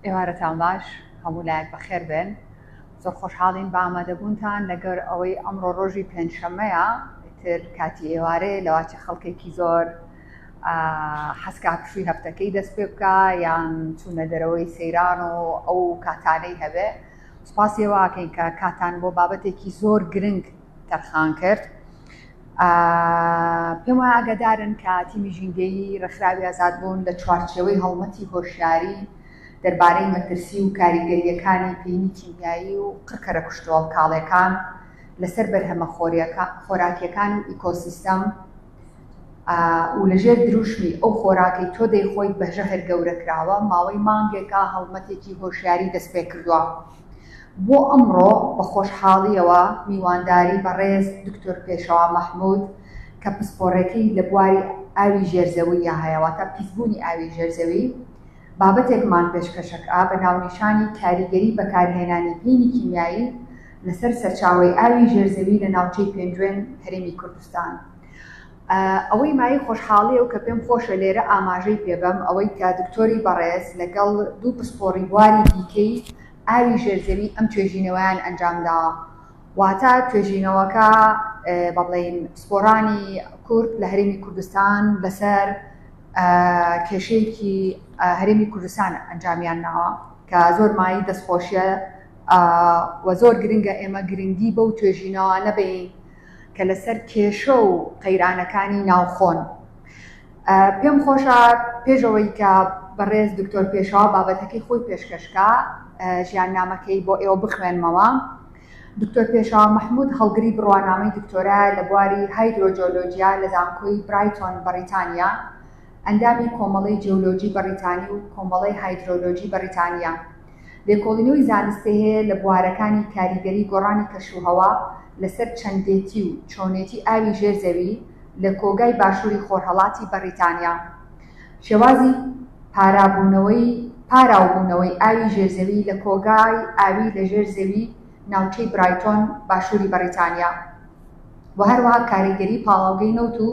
ئێوارەتان باش هەموو لایەک بەخێر بێن زۆر خۆشحاڵین بە ئامادەبوونتان لەگەر ئەوەی ئەمڕۆ ڕۆژی پێنجشەمەیە تر کاتی ئێوارەیە لەواچە خەڵکێکی زۆر حەسکە هەرشوی هەفتەکەی دەست پێ بکە یان چوونە دەرەوەی سەیران و ئەو کاتانەی هەبێ سپاسی واکەین کە کاتان بۆ بابەتێکی زۆر گرنگ تەرخان کرد پێم وایە ئاگادارن کە تیمی ژینگەیی ڕێکخراوی ئازاد بوون لە چوارچێوەی هەڵمەتی هۆشیاری دەربارەی مەترسی و کاریگەریەکانی پینی کیمیایی و قڕکەرە کوشتۆڵ کاڵەکان لەسەر بەرهەمە خۆراکیەکان و ئیکۆسیستەم و لە ژێر دروشمی ئەو خۆراکەی تۆ دەیخۆیت بە ژەهر گەورە کراوە، ماوەی مانگێکە هەڵمەتێکی هۆشیاری دەستپێکردووە. بۆ ئەمڕۆ بە خۆشحاڵییەوە میوانداری بەڕێز دکتۆر پێشەوا مەحمود کە پسپۆڕێتی لە بواری ئاوی ژێرزەوییە هەیە، واتە پیسبوونی ئاوی ژێرزەوی، بابەتێکمان پێشکەشکرا بە ناونیشانی کاریگەری بەکارهێنانی پینی کیمیایی لەسەر سەرچاوەی ئاوی ژێرزەوی لە ناوچەی پێنجوێن هەرێمی کوردستان. ئەوەی مایەی خۆشحاڵییە و کە پێم خۆشە لێرە ئاماژەی پێ بەم ئەوەی کە دکتۆری بەڕێز لەگەڵ دوو پسپۆڕی بواری دیکەی ئاوی ژێرزەوی ئەم توێژینەوەیان ئەنجام داوە. واتە توێژینەوەکە با بڵێین پسپۆڕانی کورد لە هەرێمی کوردستان لەسەر کێشەیەکی هەرێمی کوردستان ئەنجامیان ناوە کە زۆر مایەی دەستخۆشییە و زۆر گرنگە ئێمە گرنگی بەو توێژینەوە نەبین کە لەسەر کێشە و قەیرانەکانی ناوخۆن پێم خۆشە پێشەوەی کە بەڕێز دکتۆر پێشەوە بابەتەکەی خۆی پێشکەشکە ژیان نامەکەی بۆ ئێوە بخوێنمەوە. دکتۆر پێشاوە مححمود هەڵگری بڕوانامەی دکتۆرا لە بواری هایدرۆجۆلۆجیا لە زانکۆی برایتۆن بەڕیتانیا ئەندامی کۆمەڵی جیولۆجی بەڕیتانی و کۆمەڵی هایدرۆلۆجی بەڕیتانیا لێکۆڵینەوەی زانستی هەیە لە بوارەکانی کاریگەری گۆڕانی کەشوهەوا لەسەر چەندێتی و چۆنێتی ئاوی ژێر زەوی لە کۆگای باشووری خۆرهەڵاتی بەڕیتانیا، شێوازی پارابوونەوەی پاراوبوونەوەی ئاوی ژێر زەوی لە کۆگای ئاوی لە ژێر زەوی ناوچەی برایتۆن باشووری بەڕیتانیا و هەروەها کاریگەری پاڵاوگەی نەوت و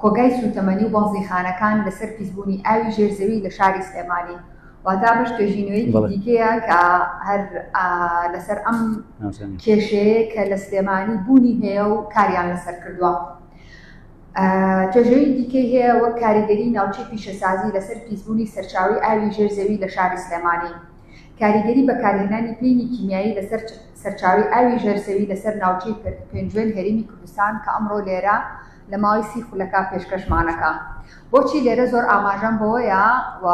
کۆگای سووتەمەنی و بەنزینخانەکان لەسەر پیسبوونی ئاوی ژێر زەوی لە شاری سلێمانی واتا بەش توێژینەوەیەکی دیکەیە کە هەر لەسەر ئەم کێشەیە کە لە سلێمانی بوونی هەیە و کاریان لەسەر کردووە توێژەوی دیکەی هەیە وەک کاریگەری ناوچی پیشەسازی لەسەر پیسبوونی سەرچاوی ئاوی ژێر زەوی لە شاری سلێمانی کاریگەری بەکارهێنانی پینی کیمیایی لەسەر سەرچاوی ئاوی ژێر زەوی لەسەر ناوچی پێنجوێن هەرمی کوردستان کە ئەمڕۆ لێرە لە لە ماوەی سی خولەکە پێشکەشمانەکە بۆچی لێرە زۆر ئاماژەم بەوەیە و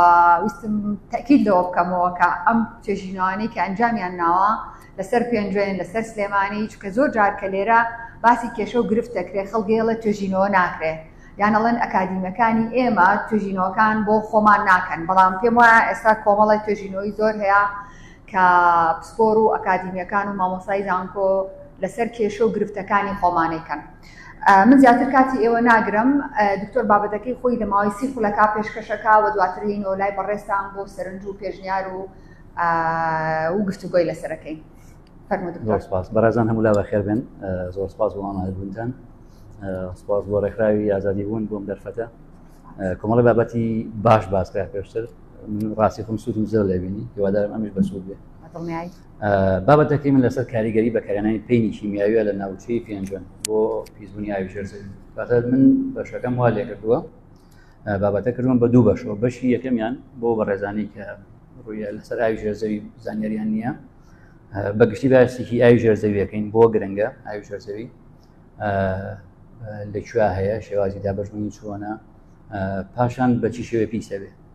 ویستم تەکیل لەوە بکەمەوە کە ئەم چێژینەوانەی کە ئەنجامیان ناوە لەسەر پێنجێن لەسەر سلێمانی چکە زۆر جار کە لێرە باسی کێشە و گرفت دەکرێت خەڵگەیەڵە توێژینەوە ناکرێت یانەڵێن ئەکادیمەکانی ئێمە توێژینەوەکان بۆ خۆمان ناکەن بەڵام پێم وایە ئێستا کۆمەڵی توێژینەوەی زۆر هەیە کە پسپۆر و ئەکادیمیەکان و مامۆسای زانکۆ لەسەر کێشە و گرفتەکانی خۆمانەکەن من زیاتر کاتی ئێوە ناگرم دکتۆر بابەتەکەی خۆی لە ماوەی سی خولەکە پێشکەشەکە و دواتر لینەوە لای بەڕێستان بۆ سەرنج و پێشنیار و و گفتوگۆی لەسەرەکەی سپاس بەڕێزان هەموو لا بەخێر بن زۆر سپاس بۆ ئامادەبوونتان سپاس بۆ ڕێکخراوی ئازادی بوون بۆم دەرفەتە کۆمەڵی بابەتی باش باسکە پێشتر ڕاستی خم سوودم زۆر لێبینی هیوادارم ئەمیش بەسوود بێ بابەتەکەی من لەسەر کاریگەری بەکارێنانی پینی کیمیاویە لە ناوچەی پێنجوێن بۆ پیسبوونی ئاوی ژێرزەوی بەتە من بەشەکەم وا لێکردووە بابەتە کردوم بە دوو بەشەوە بەشی یەکەمیان بۆ بەڕێزانی کە ڕوویە لەسەر ئاوی ژێرزەوی زانیاریان نییە بەگشتی باسێکی ئاوی ژێرزەویەکەین بۆ گرنگە ئاوی ژێرزەوی لەکوێ هەیە شێوازی دابژمنی چۆنە پاشان بەچی شێوێ پیسەوێ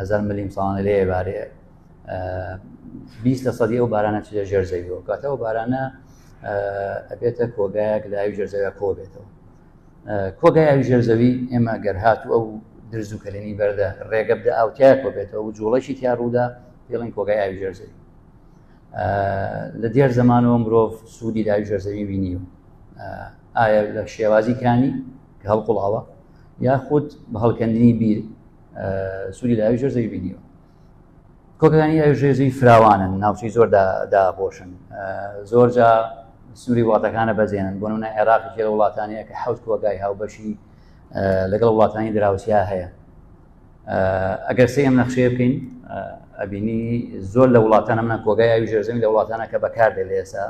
هەزار ملیم ساڵانە لێ بارێ بیست لە سەدی ئەو بارانە چ لە ژێر زەویەوە کاتەوە بارانە ئەبێتە کۆگایەک لای ژێر زەوی کۆ بێتەوە کۆگای ئەوی ژێر زەوی ئێمە گەر هات و ئەو درز و کەلێنی بەردە ڕێگە بدە ئاوتیا کۆ بێتەوە و جوڵەشی تیا ڕوودا پێڵین کۆگای ئاوی ژێر زەوی لە دێر زمانەوە مرۆڤ سوودی داوی ژێر زەوی بینی و ئایا لە شێوازی کانی کە هەڵقڵاوە یاخود بە هەڵکەندنی بیر سوودی لە ئاوی ژێر زەوی بینیوە کۆکەکانی ئاوی ژێر زەوی فراوانن ناوچەی زۆر داپۆشن زۆر جا سووری وڵاتەکانە بەزێنن بۆ نە عێراقی لە وڵاتانەیە کە حوت کۆگای هاوبەشی لەگەڵ وڵاتانی دراوسیا هەیە ئەگەر سێ ئەم نەخشەیە بکەین ئەبینی زۆر لە وڵاتانە منە کۆگای ئاوی ژێرزەوی لە وڵاتانە کە بەکاردێ لە ئێسا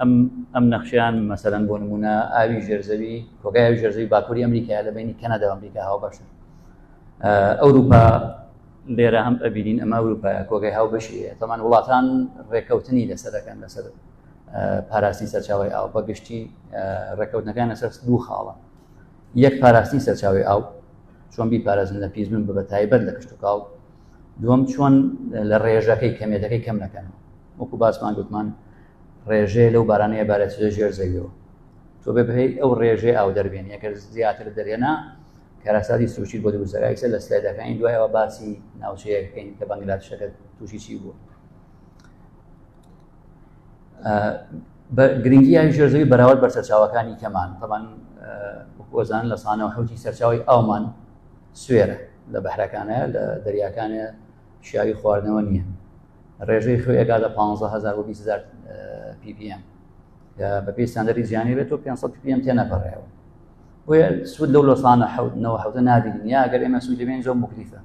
ئەم ئەم نەخشیان مەسەرەن بۆ نمونە ئاوی ژێرزەوی کۆگای ئاوی ژێرزەوی باکووری ئەمریکا لە بینی کەنەدا ئەمریکا هاو بەشە ئەوروپا لێرە هەم ئەبیین ئەمە ئەوروپا کۆگای هاو بەشی تەمان وڵاتان ڕێککەوتنی لەسەرەکەن لەسەر پاراستی سەرچاوی ئاو بە گشتی ڕێککەوتنەکان لەسەر دوو خاڵە یەک پاراستی سەرچاوی ئاو چۆن بی پارێزن لە پیزبن بە بە تایبەت لە کشتتوکاو دووەم چۆن لە ڕێژەکەی کەمێتەکەی کەم نەکەن وەکو باسمان گوتمان ڕێژەیە لەو بارانەیە بارەچێ ژێر زەویەوە تۆ بێ بهەی ئەو ڕێژێ ئاو دەربێن یەکە زیاتر دەرێنا کارەساتی سوچی بۆ دووسەرایسە لە سلایدەکانی دوایەوە باسی ناوچەیە بکەین کە بەنگلادشەکە تووشی چی بوو گرنگی یاوی ژێرزەوی بەراورد بە سەرچاوەکانی کەمان تەمان وەزان لە سانەوە حوتی سەرچاوی ئاومان سوێرە لە بەحرەکانە لە دەریاکانە شیاوی خواردنەوە نییە ڕێژەی خوێ ئەگاتە 15000 بۆ 20000 PPM کە بەپی ساندەری جیانی بێت و 500 PPM تێنەپەڕێەوە بۆ سوود لەو لۆسانە حوتنەوە حوتە نابینین یا گەر ئێمە سوود لەبێن زۆر مکلیفە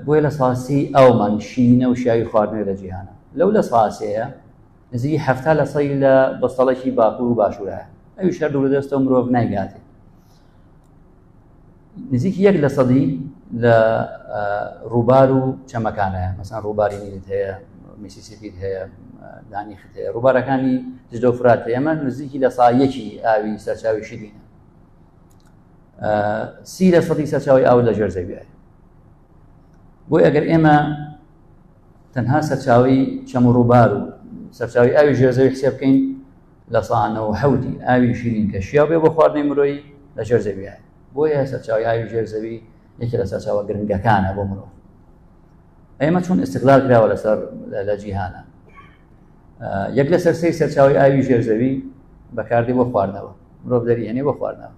بۆیە لە ساسی ئەومان شینە و شیاوی خواردنەوە لە جیهانە لەو لە ساسەیە نزیکی هەفتا لە سەی لە بەستەڵێکی باکوور و باشوورە ئەوی شەر دوور دەستەوە مرۆڤ نایگاتێت نزیکی یەک لە سەدی لە ڕووبار و چەمەکانە مەسان ڕووباری نیلت هەیە میسیسیپیت هەیە دانی خت هەیە ڕووبارەکانی جدە و فرات ئێمە نزیکی لە سایەکی ئاوی سەرچاوی شیرینە سی لە سەدی سەرچاوی ئاو لە ژێر زەویە بۆی ئەگەر ئێمە تەنها سەرچاوی چەم و ڕووبار و سەرچاوی ئاوی ژێر زەوی حسێ بکەین لە سەدا نەوەد و حەوت ی ئاوی شیرین کە شیاو بێ بۆ خواردنی مرۆیی لە ژێر زەوییە، بۆیە سەرچاوەی ئاوی ژێر زەوی یەکێ لە سەرچاوە گرنگەکانە بۆ مرۆڤ. ئێمە چۆن ئیستغلال کراوە لەسەر لە جیهانا. یەک لەسەر سێی سەرچاوی ئاوی ژێرزەوی بەکاردی بۆ خواردنەوە مرۆڤ دەری هێنێ بۆ خواردنەوە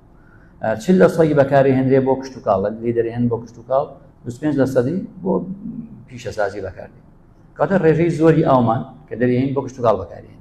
چ لە سەی بەکاری هێنرێ بۆ کشتتوکاڵ لە لی دەرێن بۆ کشتتوکاڵ 25 لە سەدی بۆ پیشەسازی بەکاردی کاتە ڕێژەی زۆری ئاومان کە دەریین بۆ کشتتوکاڵ بەکارێن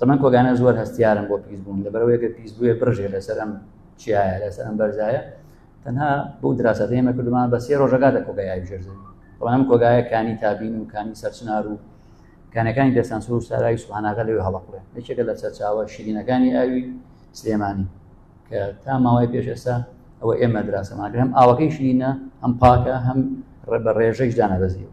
تەمەن کۆگانە زۆر هەستیارم بۆ پیس بوون لەبەرەوەیەکە پیس بووە بڕژێ لەسەر ئەم چیایە لەسەر ئەم بەرزایە تەنها بۆ دراسەت ئێمە کردمان بە سێ ڕۆژەکە دە کۆگای بژێرزن بەڵام کۆگایە کانی تابین و کانی سەرچنار و کانەکانی دەستان سوور ساراوی سواناغە لەوێ هەڵقڵێ یەکێکە لە سەرچاوە شیرینەکانی ئاوی سلێمانی کە تا ماوەی پێش ئێستا ئەوە ئێمە دراسەماگرم ئاوەکەی شیرینە ئەم پاکە هەم ڕێ بە ڕێژەیش دانەبەزیەوە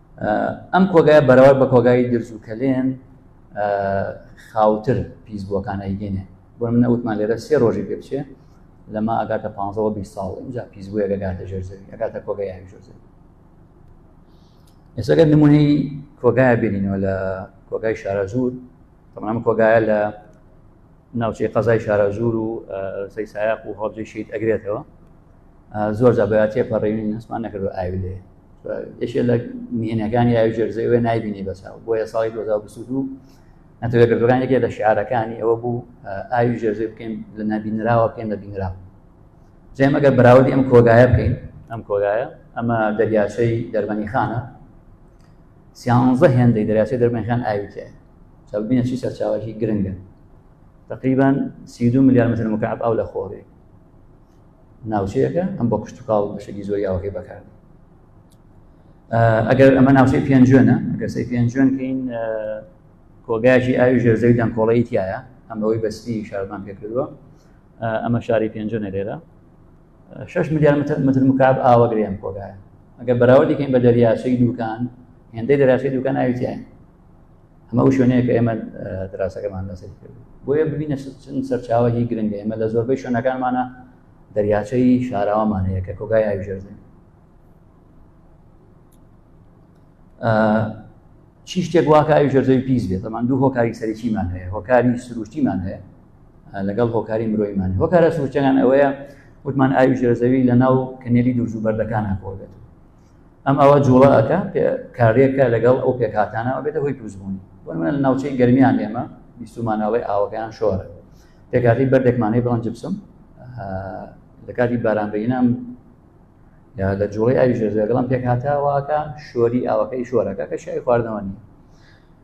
ئەم کۆگای بەرەوەر بە کۆگای درز و کەلێن خاوتر پیس بووەکان ئەیگەێنێ بۆ منە وتمان لێرە سێ ڕۆژی پێ بچێ لەمە ئەگاتە پ ساڵ اینجا پیس بووە گەگاتە ژێر زەوی ئەگاتە کۆگای یاوی ژۆر زەوی ئێسەگەر نمونەی کۆگایە بینینەوە لە کۆگای شارە زور تەمام کۆگایە لە ناوچەی قەزای شارەزوور و سەی سایق و هەڵبجەی شید ئەگرێتەوە زۆر جا بەاتێ پەڕێوین هەستمان نەکردو ئاوی لێ یەکێ لە مهێنەکانی ئاوی جەرزەی وێ نایبینی بەساو بۆیە ساڵی 2022 نەتەوە گردەکانێکی لە شعارەکانی ئەوە بوو ئاوی جەرزەی بکەین لە نبینراوە بکەین لە بینرا جێم ئەگەر بەراودی ئەم کۆگایە بکەین ئەم کۆگایە ئەمە دەریاچەی دەرمەنی خانە سیانزە هێندەی دەریاچەی دەرمەنخان ئاوی تێ چاوبینە چی سەرچاوەکی گرنگە تقریبا سی دو ملیار متر مکعب ئەو لە خۆڕێ ناوچەیەەکە ئەم بۆ کشتتوکاڵ بەشێکی زۆری ئاوەکەی بەکار ئەگەر ئەمە ناوچەی پێنجێنە گەسی پێنجێنکەین کۆگایکی ئاوی ژێرزەوی دەنکۆڵەی تایە ئەم بەوەی بەستی شارمان پێکردووە ئەمە شاری پێنجێنە لێرە 6 ملیار متر متر مکعب ئاوەگرێن کۆگایە ئەگەر بەراوە دیکەین بە دەریاچەی دوکان هێندەی دەراچەی دوکان ئاوی تایە ئەمە ئەو شوێنەیە کە ئێمە دراسەکەمان لەسەر کرد بۆیە ببینە چەند سەرچاوەی گرنگ ئێمە لە زۆربەی شوێنەکانمانە دەریاچەی شاراوامان هەیە کە کۆگای ئاوژێرزن چی شتێک واکە ئاوی ژەرزەوی پیس بێت ئەمان دوو هۆکاری سەرچیمان هەیە هۆکاری سروشتیمان هەیە لەگەڵ هۆکاری مرۆیمان هۆکارە سروشتەکان ئەوەیە وتمان ئاوی ژێرزەوی لە ناو کەنێلی دوورزوو بەردەکان هەکۆ بێت ئەم ئەوە جوڵە ئەەکە کارێکە لەگەڵ ئەو پێکهاتانە بێتە هۆی دروستبوونی بۆمە لە ناوچەی گەرمیان ئێمە بیستمانەوەی ئاوەکەیان شۆرە پێکاتی بەردێکمانەی بڵند جبسم لە کاتی بارانبینام یا لە جوڵی ئاوی ژێزەگەڵم پێکهاتاواکە شۆری ئاوەکەی شۆرەکە کە شای خواردنەوە نیە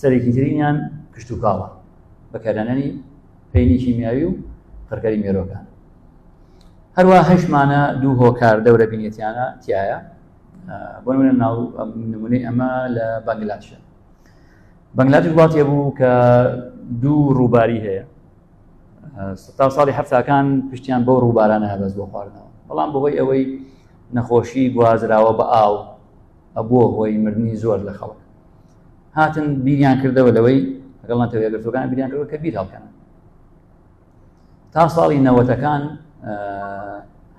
سەرێکی ترینیان کشتوکاڵە بەکارانانی پینی کیمیاوی و قڕکەری مێرۆکان هەروە هەشمانە دوو هۆکار دەورە بینێتیانە تایە بۆ ناو نمونەی ئەمە لە بەنگلاشە بەنگلادش وڵاتێ بوو کە دوو ڕووباری هەیە ستا ساڵی هەفتاکان پشتیان بۆ ڕووبارانە هەبەز بۆ خواردنەوە بەڵام بەهۆی ئەوەی نەخۆشی گوازراوە بە ئاو ئەبووە هۆی مردنی زۆر لە خەڵک هاتن بیریان کردەوە لەوەی لەگەڵ نەتەوە یەکگرتوەکان بیریان کردەوە کە بیر هەڵکەن تا ساڵی نەوەتەکان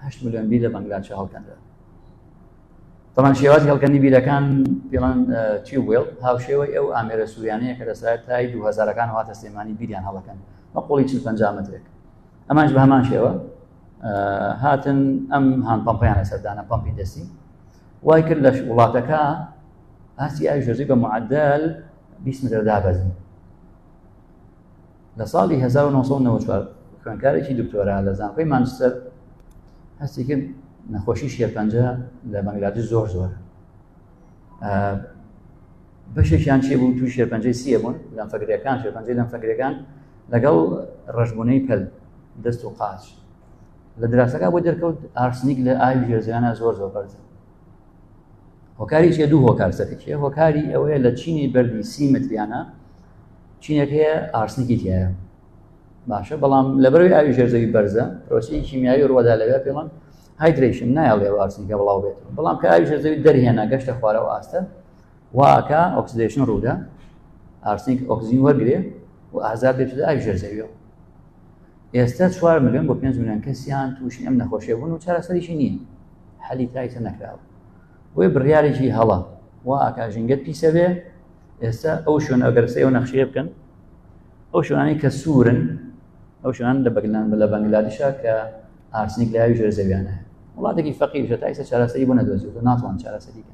هەشت ملیۆن بیر لە بەنگلادشە هەڵکەندە تەمان شێواز هەڵکەنی بیرەکان پیڵان چی وێڵ هاوشێوەی ئەو ئامێرە سووریانەیە کە لەسای تای دوهزارەکان هاتە سلێمانی بیریان هەڵەکەن بە قۆڵی چ پنج مترێک ئەمانش بە هەمان شێوە هاتن ئەم هاان پمپیانە سەردانە پمپی دەستی وای کرد لە وڵاتەکە ئاستی ئاوی ژەژی بە معدل 20 متر دابەزی لە ساڵی 1994 خوێنکارێکی دکتۆرا لە زانکۆی مانچستەر هەستی کرد نەخۆشی شێرپەنجە لە بەنگلادش زۆر زۆر بەشێکیان چێ بوو توی شێرپەنجەی سیە بوون لەم فەگرەکان شێرپەنجەی لەم فەگرەکان لەگەڵ ڕژبوونەی پەل دەست و قاچ لە دراسەکە بۆ دەرکەوت ئارسنیک لە ئاوی ژێرزیانە زۆر زۆر بەرزە هۆکاری چێ دوو هۆکار سەرکیە هۆکاری ئەوەیە لە چینی بەردی سی متریانە چینێک هەیە ئارسنیکی تایە باشە بەڵام لەبەروی ئاوی ژێرزەوی بەرزە پرۆسی کیمیایی ڕوەدا لەوێ پێڵم هایدرشن نایڵێ ئارسنیکە بڵاو بێت بەڵام کە ئاوی ژێرزەوی دەرهێنا گەشتە خوارەوە ئاستە واکە ئۆکسدشن ڕوودا ئارسنیک ئۆکسزین وەرگێ و ئازار دێت ئاوی ژێرزەویەوە ئێستا چوار ملیۆن بۆ پێنج ملیۆن کەسیان تووشی ئەم نەخۆشیە بوون و چارەسەریشی نییە حەلی تایسە نەکراوە بۆی بڕیارێکی هەڵە و ئاکا ژنگەت پیسە بێ ئێستا ئەو شوێن ئەگەرسە ئەو نەخشەیە بکەن ئەو شوێنانی کە سوورن ئەو شوێنان لە بەگلان بە لە بەنگلادیشا کە ئارسنیک لاوی ژێر زەویانە وڵاتێکی فەقیرشە تایسە چارەسەری بۆ نەدۆزیوە ناتوان چارەسەریکە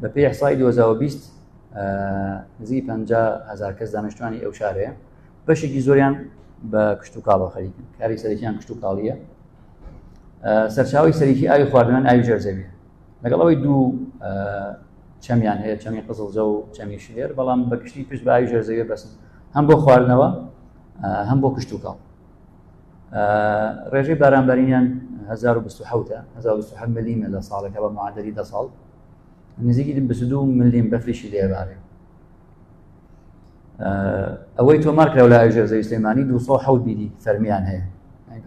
بە پێ حسای 2020 نزی پ هزار کەس دانیشتوانی ئەو شارەیە بەشێکی زۆریان بە کشت و کاڵەوە خەریکن کاری سەرەکیان کشت و کاڵیە سەرچاوی سەرکی ئاوی خواردنان ئاوی ژەرزەوی لەگەڵ ئەوەی دوو چەمیان هەیە چەمی قزڵزە و چەمی شێر بەڵام بە کشتی پشت بە ئاوی ژەرزەوی بەسن هەم بۆ خواردنەوە هەم بۆ کشت و کاڵ ڕێژەی بارانبارینیان 1970 ملیمە لە ساڵێکە بە معادری دە ساڵ نزیکی دو ملیم بەفریشی لێبارێ ئەوەی تۆمار کرا لە ئاژێر زەوی سلێمانی 200 بیری فەرمیان هەیە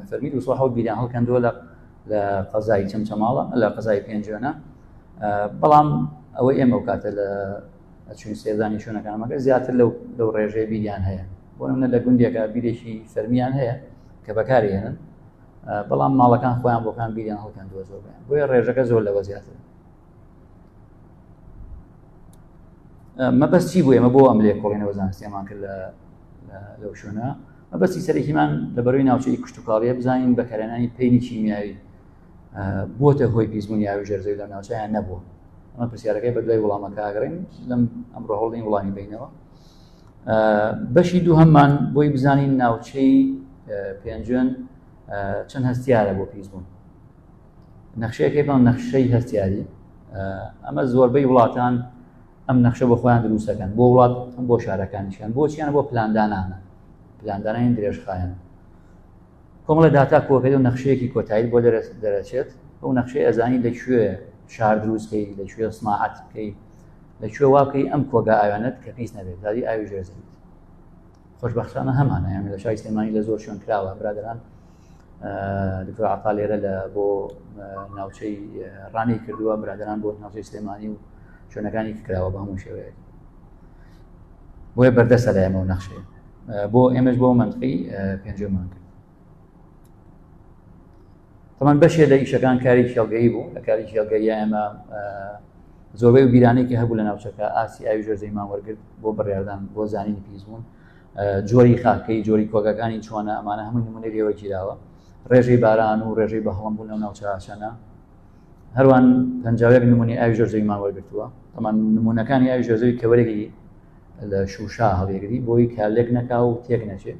فەرمی 200 بیریان هەڵکەندووە لە لە قەزای چەمچەماڵە لە قەزای پێنجێنە بەڵام ئەوەی ئێمە و کاتە لە چون سێزانی شوێنەکانمەکە زیاتر لەو لەو ڕێژەیە بیریان هەیە بۆ نمونە لە گوندێکە بیرێکی فەرمیان هەیە کە بەکاری هێنن بەڵام ماڵەکان خۆیان بۆکان بیریان هەڵکەند دووە زۆر بێن بۆیە ڕێژەکە زۆر لەوە زیاتر مەبەست چی بوو ئێمە بۆ ئەم لێکۆڵینەوە زانستیمان کرد لە لەو شوێنە مەبەستی سەرەکیمان لە بەروی ناوچەی کوشتتوکاڵیە بزانین بەکارێنانی پێینی کیمیاوی بۆتە هۆی پیسبوون یاوی ژێرزەوی لە ناوچیان نەبووە ئەمە پرسیارەکەی بە دوای وڵامەکە ئاگرین لەم ئەمڕۆ هەوڵین وڵامی بینەوە بەشی دووهەممان بۆی بزانین ناوچەی پێنجێن چەند هەستیارە بۆ پیس بوون نەخشەیەکەی بەڵام نەخشەی هەستیاری ئەمە زۆربەی وڵاتان ئەم نەخشە بۆ خۆیان دروستەکەن بۆ وڵات ئەم بۆ شارەکانیشیان بۆچیان بۆ پلاندانانە پلاندانانی درێژخایەن کۆمەڵە داتا کۆکەی و نەخشەیەکی کۆتایی بۆ دەرس دەرەچێت ئەو نەخشەی ئەزانی لەکوێ شار دروستکەی لەکوێ سماعات بکەیت لە کوێ واکەی ئەم کۆگا ئاویانەت کە پیس نەبێت داری ئاوی ژێرزەویت خۆشببختانە هەمانە یان لە شای سلێمانی لە زۆر شوێن کراوە برادران دکتۆر عقا لێرە لە بۆ ناوچەی ڕانی کردووە برادران بۆ ناوچەی سلێمانی و شوێنەکانی کراوە بە هەموو شێوەیە بۆیە بەردەسە لە ئێمە و نەخشێ بۆ ئێمەش بۆ منتقی پێنجمان کرد تەمان بەشێ لە ئیشەکان کاری شێڵگەی بوو لە کاری شێڵگەی ئێمە زۆربەی و بیرانێکی هەبوو لە ناوچەکە ئاسی ئاوی ژۆر زەیمان وەرگرت بۆ بڕاردان بۆ زانینی پیسبوون جۆری خاکەی جۆری کۆگەکانی چۆنە ئەمانە هەمووی نمونەی لێوە گیراوە ڕێژەی باران و ڕێژەی بە هەڵم بوون لەو ناوچەشانە هەروان پنجاوێک نمونی ئاوی ژۆر زەیمان وەرگتووە ئەمان نمونونەکانی ئاوی ژۆزەوی کەوەرەی لە شوشا هەڵێگری بۆی کالێک نەکا و تێک نەچێت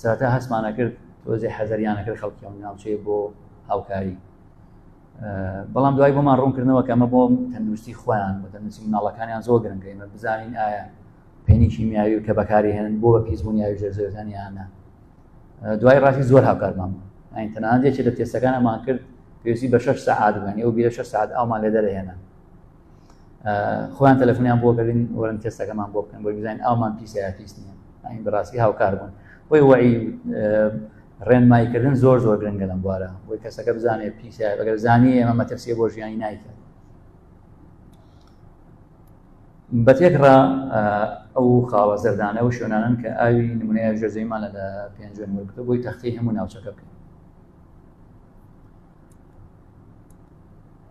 سەرەتا هەستمانە کرد تۆزێ حەزەریانە کرد خەڵکی ئەم ناوچەیە بۆ هاوکاری بەڵام دوای بۆمان ڕوونکردنەوە کە ئەمە بۆ تەندروستی خۆیان بە تەندروستی مناڵەکانیان زۆر گرنگە ئمە بزانین ئایا پێنی کیمیاوی و کە بەکاری هێنن بۆ بە پیسبوونیاوی ژێرزەوەتانیانە دوای ڕاستی زۆر هاوکارمان ئاین تەنانەت یەکێ لە تێستەکانمان کرد پێویستی بە شش سعات بووین ئەو بیرە شش سعات ئەومان لێ دەرهێنا خۆیان تەلەفۆنیان بۆ کردین وەرن تێستەکەمان بۆ بکەن بۆی بزانین ئەومان پیسەیە پیس نیە ئاین بەڕاستی هاوکار بوون بۆی وەی ڕێنماییکردن زۆر زۆر گرنگە لەم بوارە بۆی کەسەکە بزانێت پیسە بەگەر زانی ئێمە مەترسیە بۆ ژیانی نایکرد بە تێکڕا ئەو خاڵە زەردانە و شوێنانن کە ئاوی نمونەیە ژەزەیمانە لە پێنجێن وەرگتە بۆی تەختی هەموو ناوچەکە بکەین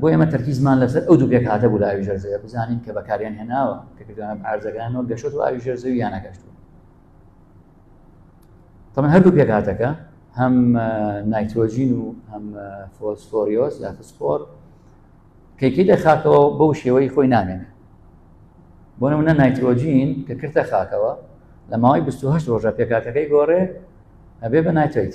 بۆ ئێمە تەرکیزمان لەسەر ئەو دوو پێک هاتە بوو لە ئاوی ژەرزەیە بزانین کە بەکاریان هێناوە کە کردوانە ئارزەکانەوە گەشت و ئاوی ژەرزەوی یانە گەشتوە تەمە هەردوو پێک هاتەکە هەم نایتۆژین و هەم فۆسفۆریۆس یا فسفۆر کەکی لە خاکەوە بەو شێوەی خۆی نامێنێ بۆ نمونە نایتۆجین کە کردە خاکەوە لە ماوەی 28 ڕۆژە پێکاتەکەی گۆڕێ ئەبێ بە نایتۆیت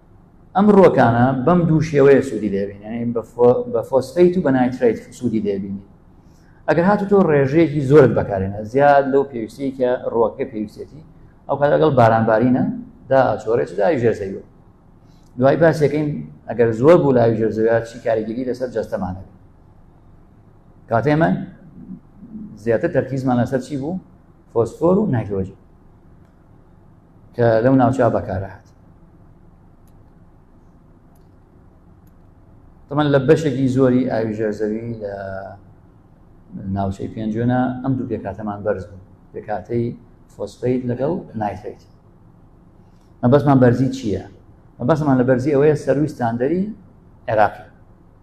ئەم ڕۆکانە بەم دوو شێوەیە سوودی دەبینێن بە فۆسفیت و بە نایتریت سوودی دەبینی ئەگەر هاتو تۆ ڕێژەیەکی زۆرت بەکارێنە زیاد لەو پێویستی کە ڕۆکە پێویستێتی ئەو کات لەگەڵ بارانبارینە دا ئەچۆرێت داوی ژێرزەوی دوای باسەکەین ئەگەر زۆر بوو لاوی ژێرزەویا چی کاریگەری لەسەر جەستەمانە کاتێمە زیاتر تەرکیزمان لەسەر چی بوو فۆسفۆر و نایترۆجین کە لەو ناوچە بەکارهات تەمەن لە بەشێکی زۆری ئاوی ژێرزەوی لە ناوچەی پێنجێنە ئەم دوو پێکاتەمان بەرز بوو پێکاتەی فۆسفیت لەگەڵ نایتریت مەبەستمان بەرزی چییە؟ مەبەستمان لە بەرزی ئەوەیە سەروی ستاندەری عێراقی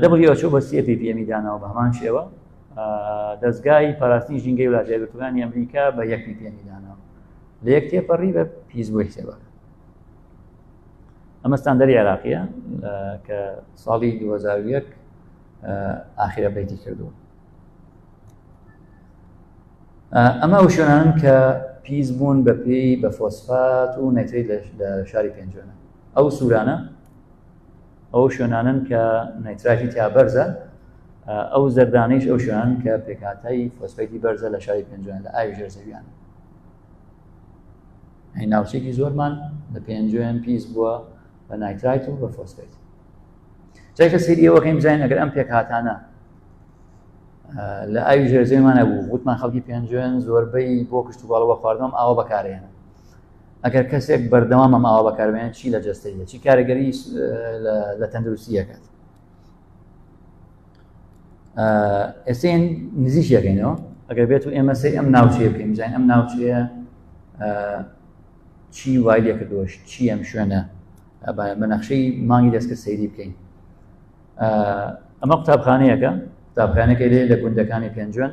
دەبڕی ئەچۆ بە سێ پی پێمی داناوە بە هەمان شێوە دەستگای پاراستنی ژینگەی ولاتی گرتوانی ئەمریکا بە یەک پی پێمی داناوە لە یەک تێپەڕی بە پیس بۆی حسێبە ئەمە ستاندەری عێراقیە کە ساڵی 2001 ئاخرە بیتی کردووە ئەمە ئەو شوێنان کە پیس بوون بە پێی بە فۆسفات و نەتری لە شاری پێنجۆنە ئەو سوورانە ئەو شوێنانن کە نەیتراژی تیا بەرزە ئەو زەردانیش ئەو شوێنان کە پێکاتای فۆسفەیتی بەرزە لە شاری پێنجوێن لە ئاوی ژێر زەویان هەی ناوچێکی زۆرمان لە پێنجوێن پیس بووە بە نایترایت و بە فۆسفەیت جای کە سری ئەوەکەین بزانین ئەگەر ئەم پێکهاتانە لە ئاوی ژێرزێمانە بوو وتمان خەڵکی پێنجوێن زۆربەی بۆ کشت و باڵەوە خواردنم ئاوە بەکارێنە ئەگەر کەسێک بەردەوامە ماوە بەکاربێنێت چی لە جەستەیە چی کارەگەری لە تەندروستی یەکات ئێسێن نزیش یەکەینەوە ئەگەر بێت و ئێمە سەر ئەم ناوچەیە بکەین بزانین ئەم ناوچەیە چی وای لێ کردوەش چی ئەم شوێنە بە نەخشەی مانگی دەستکە سەیری بکەین ئەمە قوتابخانەیەەکە قوتابخانەکە لێ لە گوندەکانی پێنجوێن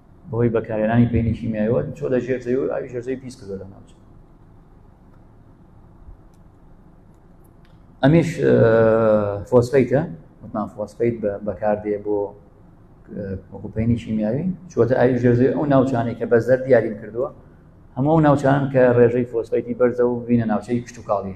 بەهۆی بەکارێنانی پینی کیمیایەوە چۆ لە ژێر زەوی و ئاوی ژێرزەوی پیس کردو لە ناوچە ئەمیش فۆسفیتە وتمان فۆسفیت بەکاردێ بۆ وەکوپینی کیمیاوی چۆتە ئاوی ژێرزەوی ئەو ناوچانەی کە بەزەر دیاریم کردووە هەموو ناوچان کە ڕێژەی فۆسفیتی بەرزە و بینە ناوچەی کشتتوکاڵی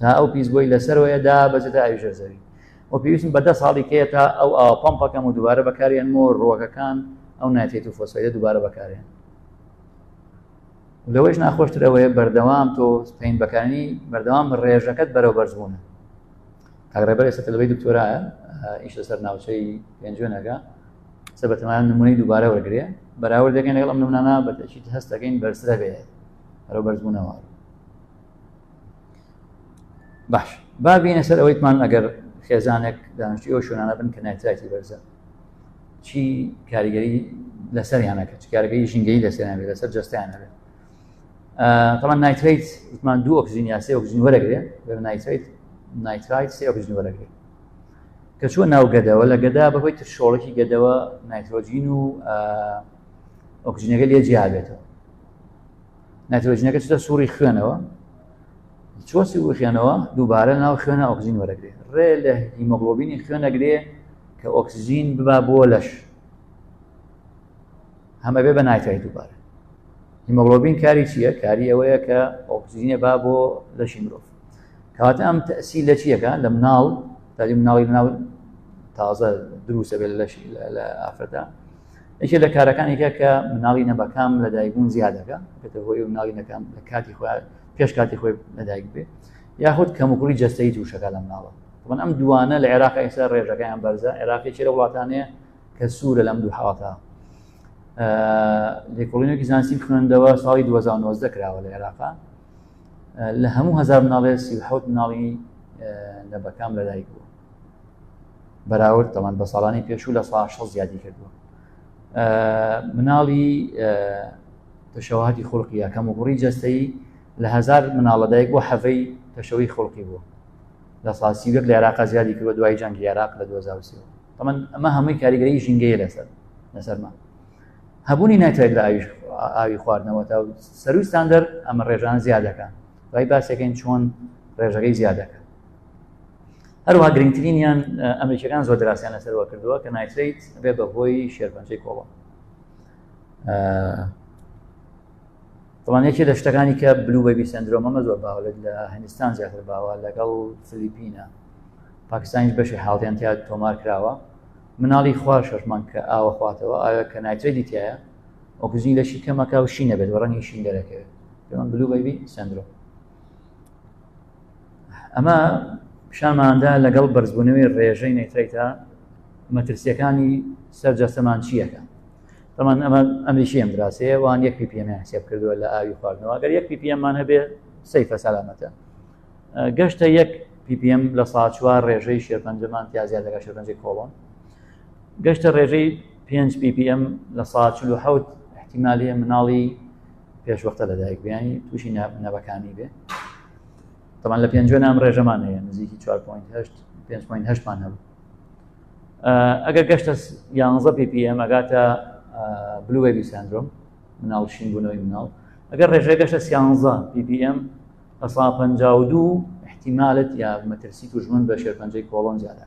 تا ئەو پیس بۆی لەسەرەوەیە دا بەجێتە ئاوی ژێر زەوی و پێویستم بە دە ساڵی کەیە تا ئەو ئاوە پەمپەکەم و دووبارە بەکاریان مۆ ڕوەکەکان ئەو ناتێت و فۆسفەیدە دووبارە بەکاریان لەوەش ناخۆشتر ئەوەیە بەردەوام تۆ پین بەکانی بەردەوام ڕێژەکەت بەرەو بەرزبوون کاگڕێبەر ئێستا تەلبەی دکتۆرایە ئیش لەسەر ناوچەی پێنجوێنەکە سە بەتەمان نمونەی دووبارە وەرگێ بەراورد دەکەین لەگەڵ ئەم نمونانە بەتەشیت هەستەکەین بەرسرە بێت بەرەو بەرزبوونەوە باش بابینە سەر ئەوەیتمان ئەگەر خێزانێک دانیشتی ئەو شوێنانە بن کە نایتراتی بەرزە چی کاریگەری لەسەریانەکە چ کارگەری ژینگەی لەسەریان بێت لەسەر جستیان هەبێت طبعا نایتریت وتمان دوو ئۆکسجین یا سێ ئۆکسجین وەرەگرێ بەر نایتریت نایترایت سێ ئۆکسجین وەرەگرێ کە چوە ناو گەدەوە لە گەدا بەهۆی تر شۆڵکی گەدەوە نایترۆجین و ئۆکسجینەکە لێ جیابێتەوە ناترۆجینەکە چتە سوڕی خوێنەوە چۆسی و خوێنەوە دووبارە ناو خوێنە ئۆکسزین وەرەگرێ ڕێ لە هیمۆگلۆبینی خوێنەگرێ کە ئۆکسزین ببا بۆ لەش هەمە بێ بە نایتای دووبارە هیمۆگلۆبین کاری چییە کاری ئەوەیە کە ئۆکسزینە با بۆ لەشی مرۆڤ کەواتە ئەم تەسی لە چیەکە لە مناڵ تاجی مناڵی مناڵ تازە دروسە بێت لەشی لە ئافرەتە یەکێ لە کارەکانێکە کە مناڵی نەبەکام لە دایکبوون زیادەکە بێتە هۆی مناڵی نەکەم لە کاتی خۆ پێش کاتی خۆی لەدایک بێ یاخود کەموکوڕی جەستەی تووشەکە لە مناڵە من ئەم دوانە لە عێراق ئێستا ڕێژەکەیان بەرزە عێراقی چێرە وڵاتانەیە کە سوورە لەم دوو حڵاتە لێکۆڵینێکی زانستی خوێندەوە ساڵی 2009 کراوە لە عێراقا لە هەموو هزار مناڵێ سی حوت مناڵی لە بەکام لەدایک بوو بەراورد تەمان بە ساڵانی پێشوو لە سا شە زیادی کردووە مناڵی تەشەواتی خولقی یەکەم و گوڕی جەستەی لە هزار مناڵەدایک بۆ حەڤەی تەشەوی خولقی بووە لە ساسی وەک لە عێراقا زیادی کردوە دوای جەنگ عێراق لە 2023 تەمەن ئەمە هەمووی کاریگەری ژینگەیە لەسەر لەسەرمان هەبوونی ناتوانێت لە ئاویش ئاوی خواردنەوە تا سەروی ستاندەر ئەمە ڕێژان زیادەکە دوای باسەکەین چۆن ڕێژەکەی زیادەکە هەروەها گرنگترینیان ئەمریکیەکان زۆر دراسیان لەسەرەوە کردووە کە نایتریت بێ بە هۆی شێرپەنجەی کۆڵۆ دڵانێکی لە شتەکانی کە بلو بەبی سندرۆمەمە زۆر باوەێت لە هندستان زیاتر باوە لەگەڵ فلیپینە پاکستانیش بەشی حاڵیان تیا تۆمار کراوە مناڵی خوار شەرمان کە ئاوە خواتەوە ئایا کە نایتری دیتیایە ئۆکزین لەشی کەمەکە و شینە بێت وەڕەنی شین دەرەکەوێت پێمان بلو بەبی سندرۆم ئەمە پیشانماندا لەگەڵ بەرزبوونەوەی ڕێژەی نەیترەیتە مەترسیەکانی سەر جەستەمان چیەکە بەمان ئەمە ئەمریشیەم دراسەیە وان یەک پیپیەمیان حسێب کردووە لە ئاوی خواردنەوە گەر یەک پیپیەممان هەبێ سەیفە سەلامەتە گەشتە یەک پیپیەم لە سا چوار ڕێژەی شێرپەنجەمان تیازیا لەگە شێرپەنجی کۆڵۆن گەشتە ڕێژەی 5 PPM لە ساچلو حوت احتیمالی مناڵی پێش وەختە لە دایک بیانی تووشی نەبەکانی بێ تەمان لە پێنجوێ نام ڕێژەمان هەیە نزیکی 4.8مان هەبوو ئەگەر گەشتە یانزە PPM ئەگاتە بلوێبی سندرۆم مناڵ شین بوونەوەی مناڵ ئەگەر ڕێژەی گەشتە سیانزە PPM ئەسا پ دوو احتیمالت یا مەترسی توژمن بە شێرپەنجەی کۆڵۆن زیادە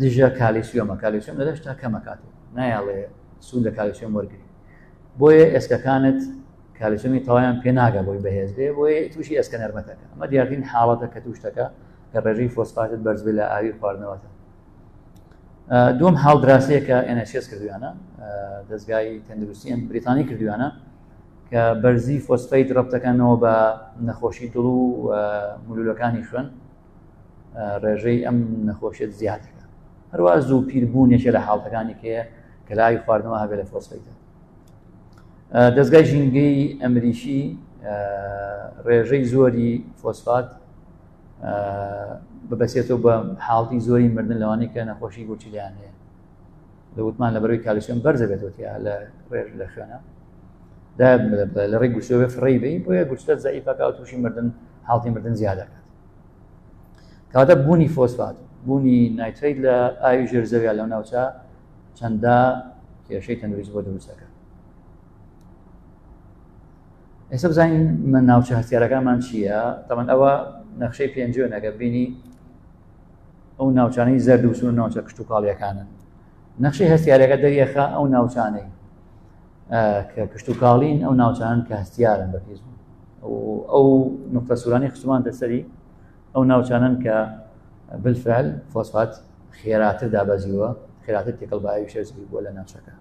دژە کالیسیۆمە کالیسیۆم لە دەشتا کەمەکات نایاڵێ سوود لە کالیسیۆم وەرگری بۆیە ئێسکەکانت کالیسیۆمی تەوایان پێناگە بۆی بەهێز بێ بۆی تووشی ئێسکە نەرمەتەکە ئەمە دیارترین حاڵەتە کە توشتەکە کە ڕێژەی فۆسفاتت بەرزبێ لە ئاوی خواردنەوەتە دوم حاڵ دراسەیەکە NHS کردویانە دەستگای تەندروستی ئەم بریتانی کردویانە کە بەرزی فۆسفیت ڕەبتەکانەوە بە نەخۆشی دڵ و مولولەکانی خوێن ڕێژەی ئەم نەخۆشیت زیاتەکە هەروە زوو پیربوونێکە لە حاڵەکانی کەیە کە لاوی خواردنەوە هەبێت لە فۆسفیدا دەستگای ژینگەی ئەمریکی ڕێژەی زۆری فۆسفات ببەسێتەوە بە حاڵی زۆری مردن لەوانی کە نەخۆشی گوچیلیان هەیە لە وتمان لە بەروی کالیسیۆن بەرزە بێتەوەتیا لە ڕێژ لە خوێنە لە ڕێ گوشتەوە فڕی بی بۆیە گوشتە زەعیفەکە و تووشی مردن حاڵی مردن زیاد دەکات کەواتە بوونی فۆسفات بوونی نایتریت لە ئاوی ژێر زەویا لەو ناوچە چەندە کێشەی تەندروست بۆ دروستەکە ئێستا بزانین من ناوچە هەستیارەکانمان چییە تەمەەن ئەوە نەخشەی پێنجێنەکە بینی ئەو ناوچانەی زەردوسون ناوچە کشتتوکاڵیەکانن نەخشی هەستیارەکە دەریەخە ئەو ناوچانەی کە کشتوکاڵین ئەو ناوچانن کە هەستیارن بە پێز ئەو نقطە سورانی خشتمان دەسەری ئەو ناوچانن کە بالفعل فۆسفات خێراتر دابەزیوە خێراتر تێکەڵ باوی شەرزبی بووە لە ناوچەکە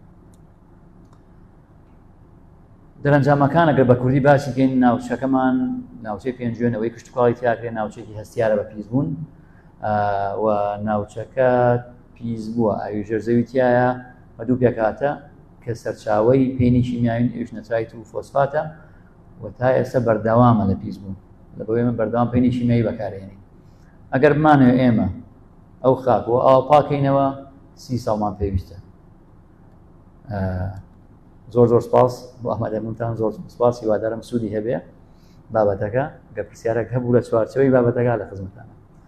دەرەنجامەکان ئەگەر بە کوردی باسی گەین ناوچەکەمان ناوچەی پێنجوێنەوەی کشتتوکڵی تیاگرێ ناوچێکی هەستیارە بە پیس بوون و ناوچەکە پیس بووە ئاوی ژێرزەوی تایە بە دوو پێکاتە کە سەرچاوەی پێنی کیمیاوین ئەوش نەترایت و فۆسفاتە و تا ئێستا بەردەوامە لە پیس بوون لە بۆ ئێمە بەردەوام پێنی کیمیایی بەکارێنین ئەگەر بمانێ ئێمە ئەو خاک و ئاو پاکەینەوە سی ساڵمان پێویستە زۆر زۆر سپاس بۆ ئەمەدەمونتان زۆر سپاس هیوادارم سوودی هەبێ بابەتەکە گە پرسیارێک هەبوو لە چوارچەوەی بابەتەکە لە خزمەتانە